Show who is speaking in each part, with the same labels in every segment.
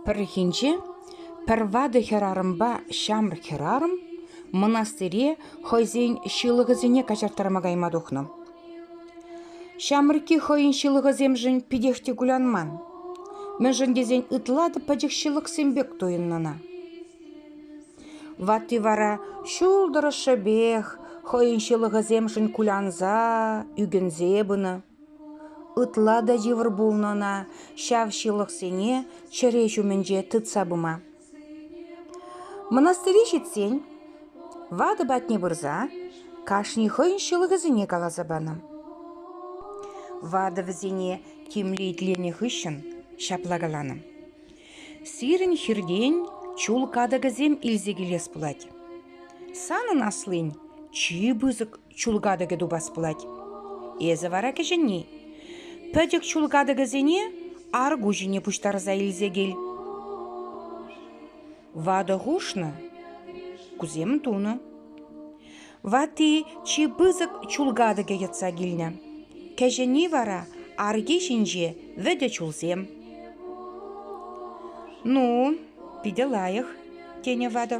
Speaker 1: Пӗррехинче пӗр ватӑ хӗрарӑмпа ҫамрӑк хӗрарӑм мӑнастире хӑйсен ҫылӑхӗсене каҫарттарма кайма тухнӑ. Ҫамрӑкки хӑйӗн ҫылӑхӗсемшӗн питех те кулянман, мӗншӗн тесен ытла та пӗчӗк ҫылӑхсем пек туйӑннӑ ӑна. Ватти вара ҫул тӑрӑшшӗпех хӑйӗн ҫылӑхӗсемшӗн кулянса, ӳкӗнсе пынӑ. Ытла та йывӑр пулнӑ ӑна ҫав ҫылӑхсене чӗре ҫумӗнче тытса пыма. Мӑнастыре ҫитсен ватӑ патне пырса кашни хӑйӗн ҫылӑхӗсене каласа панӑ. Ватӑ вӗсене тимлӗ итленӗ хыҫҫӑн ҫапла каланӑ. Сирӗн хиртен чул катӑкӗсем илсе килес пулать. Санӑн аслин чи пысӑк чул катӑкӗ тупас пулать. Эсӗ вара кӗҫӗнни. Пӗтӗк чул катӑкӗсене арку ҫине пуҫтарса илсе кил. Ватӑ хушнӑ, кусем тунӑ. Ватти чи пысӑк чул катӑкӗ йӑтса килнӗ. Кӗҫӗнни вара арки ҫинче вӗтӗ чулсем. Ну, питӗ лайӑх, тенӗ ватӑ.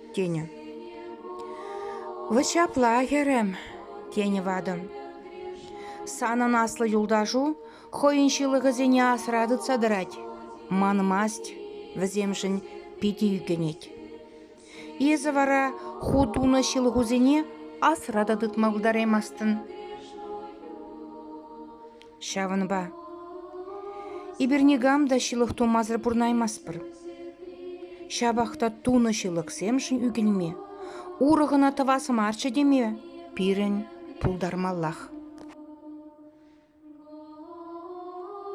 Speaker 1: тенӗ. «Вӑ ҫапла, хӗрӗм», – тенӗ ватӑ. «Санӑн аслӑ юлташу хӑйӗн ҫылӑхӗсене асра тытса тӑрать. Манмасть, вӗсемшӗн питӗ ӳкӗнет. Эсӗ вара ху тунӑ ҫылӑхусене асра та тытма пултараймастӑн». Ҫавӑнпа эпир никам та ҫылӑх тумасӑр пурӑнаймастпӑр. Ҫапах та тунӑ ҫылӑхсемшӗн ӳкӗнме, урӑх ӑна тӑвас марччӗ теме пирӗн пултармаллах.